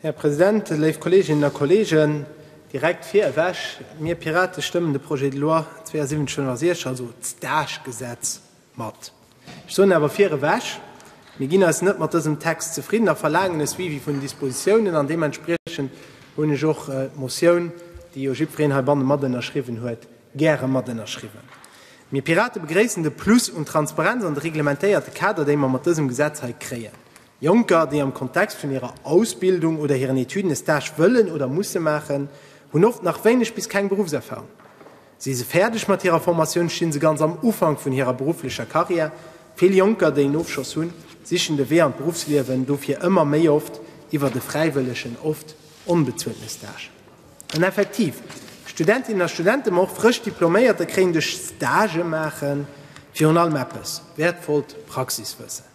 Här President, léif Kolleeginnen a Kolleegen, direkt virewech, Mir Pirate stëmmen de Projet de loi 7269, also d'Stage-Gesetz, mat. Ech soen awer virewech, Mir ginn eis net mat dësem Text zefridden a verlaangen e Suivi vun den Dispositiounen an deementspriechend hunn ech och d'Motioun, déi jo jiddwereen heibannen matënnerschriwwen huet, Gäre mat ënnerschriwwen. Mir Pirate begréissen de Plus un Transparenz an de reglementéierte Kader, déi mer mat dësem Gesetz hei kréien. Jonker, déi am Kontext vun hirer Ausbildung oder hiren Etuden e Stage wëllen oder musse maachen, hunn oft nach wéineg bis keng Beruffserfarung. Si se fäerdeg mat hirer Formatioun, sti se ganz am Ufank vun hirer berufflecher Karriär. Vill Jonker, déi en Ofschoss hunn, sichen de Wee an d'Beruffsliewen dofir ëmmer méi oft iwwert e fräiwëllegen, oft onbezueltene Stage. An effektiv, Studentinnen a Studente, ma och frësch Diploméierter kréien duerch Stagë maachen virun allem eppes, wäertvollt Praxiswëssen.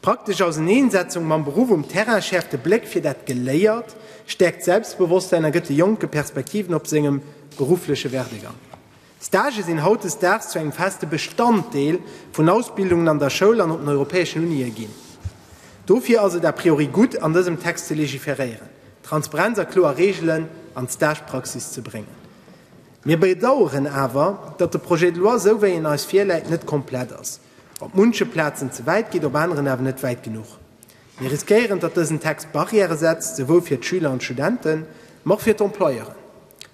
D'praktesch Auseneensetzung mam Beruff um Terrain schäerft de Bléck fir dat Geléiert, stäerkt d'Selbstbewosstsäin a gëtt de Jonke Perspektiven op sengem beruffleche Werdegang. Stagë sinn hautdesdaags zu engem feste Bestanddeel vun Ausbildungen an der Schoul an op den europäeschen Unië ginn. Dofir ass et a priori gutt, an dësem Text ze legiferéieren, Transparenz a kloer Reegelen an d'Stagepraxis ze bréngen. Mir bedaueren awer, datt de Projet de loi, esou wéi en eis virläit, net komplett ass, op munche Plazen ze wäit geet, op aneren awer net wäit genuch. Mir riskéieren, datt dësen Text Barrièrë setzt, souwuel fir d'Schüler an d'Studenten, ma och fir d'Employeuren.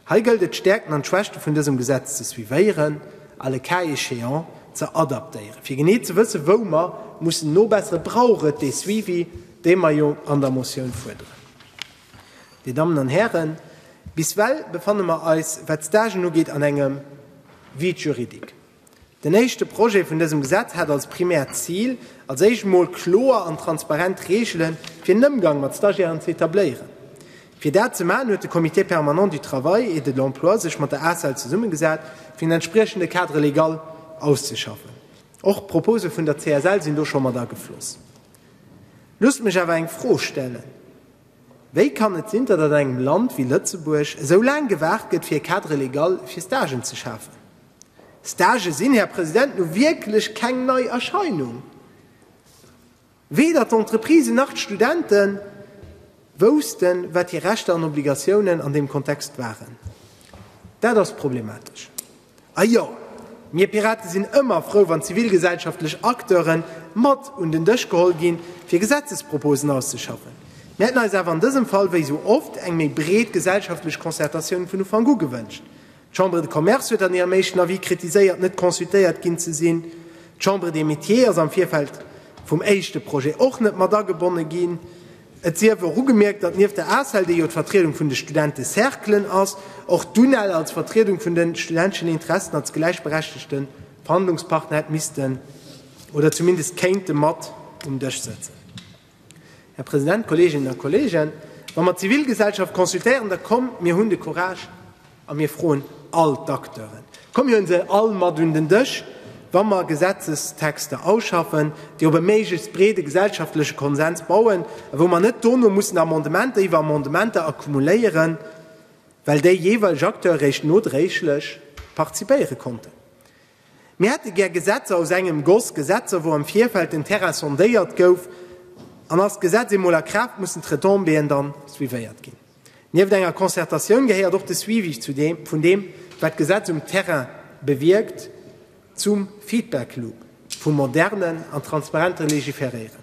Hei gëllt et, d'Stäerkten an d'Schwächte vun dësem Gesetz ze suivéieren a le cas échéant ze adaptéieren, fir genee ze wëssen, wou mer mussen nobesseren. Et brauch et dee Suivi, dee mer jo an der Motioun fuerderen. Dir Dammen an Hären, biswell befanne mer eis, wat d'Stagen ugeet, an engem Vide juridique. Den éischte Projet vun dësem Gesetz hat als primäert Zil, als éischt emol kloer an transparent Reegele fir den Ëmgang mat Stagiairen ze etabléieren. Fir dat ze maachen, huet de Comité permanent du travail et de l'emploi sech mat der ACEL zesummegesat, fir en entspriechende Cadre légal auszeschaffen. Och d'Propose vun der CSL sinn do scho mat agefloss. Loosst mech awer eng Fro stellen, Wéi kann et sinn, datt an engem Land wéi Lëtzebuerg esou laang gewaart gëtt, fir e Cadre légal fir Stagen ze schafen? Stagë sinn, Här President, nu wierklech keng nei Erscheinung. Weder d'Entreprisen nach d'Studente woussten, wat hir Rechter an Obligatiounen an deem Kontext waren. Dat ass problematesch. A jo, mir Pirate sinn ëmmer frou, wann zivilgesellschaftlech Acteure mat un den Dësch geholl ginn, fir Gesetzesproposen auszeschaffen. Mir hätten eis awer an dësem Fall, wéi esou oft, eng méi breet gesellschaftlech Concertatioun vun Ufank u gewënscht. D'Chambre de Commerce huet an hirem éischten Avis kritiséiert, net consultéiert ginn ze sinn. D'Chambre des Métiers ass am Virfeld vum éischte Projet och net mat agebonne ginn. Et sief och ugemierkt, datt nieft der Asel, déi jo d'Vertriedung vun de Studentecerclen ass, och d'UNEL als Vertriedung vun de studenteschen Interessen als gläichberechtegte Verhandlungspartner hätt missten oder zumindest kéinte mat um Dësch sëtzen. Här President, Kolleeginnen a Kolleegen, wa mer d'Zivilgesellschaft consultéieren, da komm mir hunn de Courage a mir froen all d'Acteuren, komm mir hu se all mat un den Dësch, wa mer Gesetzestexter ausschaffen, déi op e méiglechst breede gesellschaftleche Konsens bauen a wou mer net dono mussen Amendementer iwwer Amendementer accumuléieren, well déi jeeweileg Acteure réischt nodréiglech participéiere konnten. Mir hätte gär Gesetzer aus engem Goss, Gesetzer wou am Virfeld den Terrain sondéiert gouf, an ass d'Gesetz eemol a Kraaft, mussen d'Retombéeën dann suivéiert ginn. Nieft enger Concertatioun gehéiert och de Suivi vun deem wat d'Gesetz um Terrain bewierkt zum Feedback-Loop vum modernen an transparente Légiféréieren.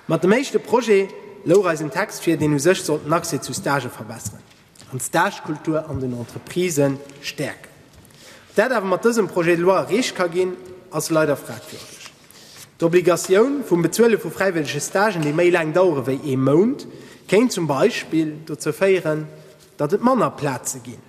Mat dem éischte Projet louch eis en Text vir, deen u sech sollt den Accès zu Stagë verbesseren an d'Stagekultur an den Entreprisë stäerken. Ob dat awer mat dësem Projet de loi erreecht ka ginn, ass leider fragwürdeg. D'Obligatioun vum Bezuele vu fräiwëllege Stagen, déi méi laang dauere wéi ee Mount, kéint zum Beispill dozou féieren, datt et manner Plaze ginn.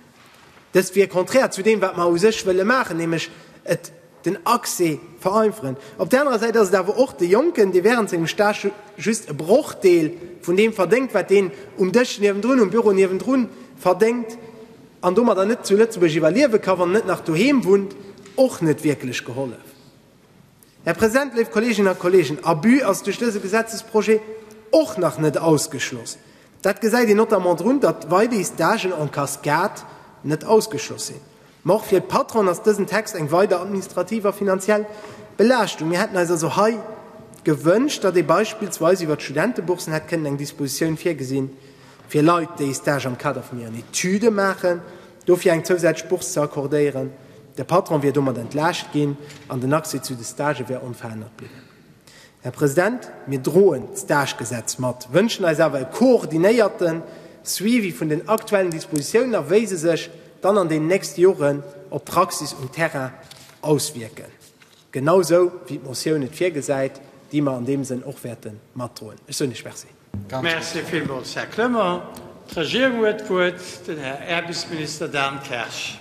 Dëst wier konträr zu deem, wat mer u sech wëlle maachen, nämlech et, den Accès vereinferen. Op där anerer Säit ass et awer och de Jonken, dee während sengem Stage just e Brochdeel vun deem verdéngt, wat deen um Dësch niewendrun, um Büro niewendrun verdéngt an domadder net zu Lëtzebuerg iwwerliewe ka wann en net nach doheem wunnt, och net wierklech gehollef. Här President, léif Kolleeginnen a Kolleegen, Abus ass duerch dëse Gesetzesprojet och nach net ausgeschloss. Dat gesäit een notamment drun, datt weideis d'Agen en cascade net ausgeschloss sinn. Mä och fir d'Patronen ass dësen Text eng weider administrativ a finanziell Belaaschtung. Mir hätten eis also hei gewënscht, datt ee beispillsweis iwwert d'Studenteboursen hätt kënnen eng Dispositioun virgesinn, fir Leit, déi ee Stage am Kader vun hiren Etüde maachen, dofir eng zousätzlech Bourse ze accordéieren. De Patron wier domat entlaascht ginn an den Accès zu de Stagë wär onverännert bliwwen. Här President, mir droen d'Stagegesetz mat, wënschen eis awer e koordinéierte Suivi vun den aktuellen Dispositiounen a wéi se sech dann an den nächste Joren op d'Praxis um Terrain auswierken, genausou wéi d'Motioun et virgesäit, déi mer an deem Sënn och wäerte matdroen. Ech soen Iech Merci. Merci villmools, Här Clement. D'Regierung huet d'Wuert, den Här Äerbesminister Dan Kersch.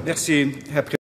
Merci, Här.